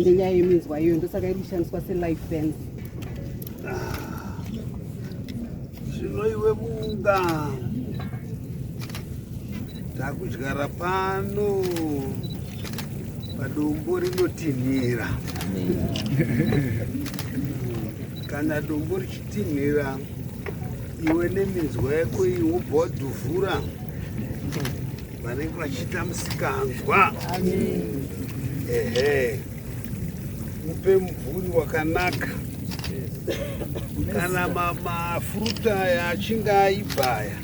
ngenyaya yeminzwa iyoyo ndosaka iri kushandiswa selife fence zvino iwe bunga takudyara pano padombo rinotinhira kana dombo richitinhira iwe neminzwa yako iyi wobva wadhuvhura vanenge vachiita musikanzwa ehe upe mvuri wakanaka kana mafruit aya achinge aibva aya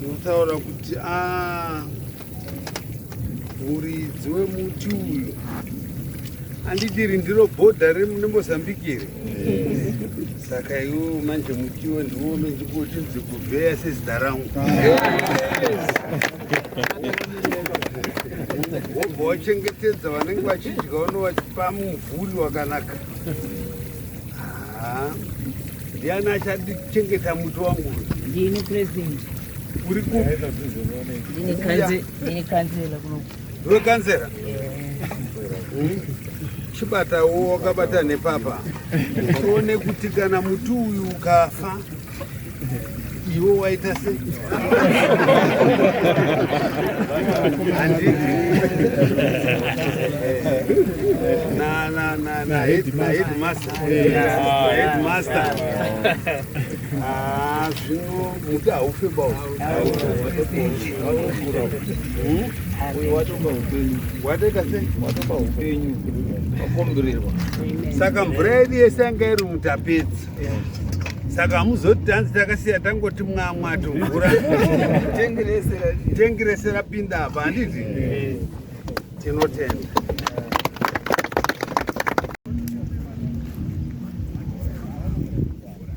unotaura kuti a ah, muridzi wemuti uyu andidiri ndiro bhodha remuzambiki here saka iwo manje mutiwo ndiwo mendikuti dzikuvheya sezita rangu wobva wachengetedza vanenge vachidya unovachipa mumvuri wakanaka ndiani achachengeta muti wangu ndini president uri kukanzela kunoku Ndiwe kanzera. Chibata uwo wakabata nepapa. Uone kuti kana muti uyu ukafa iwe waita sei? Na na na na headmaster. Headmaster. Ah, zvino muti haufe bao uyo watoba upenyu watoita sei watoba upenyu wakomborerwa saka mvura yedu yese yanga iri mutapedzi saka hamuzoti tanzi takasiya tangoti mwamwa tovhura tengi rese rapinda apa handiti tinotenda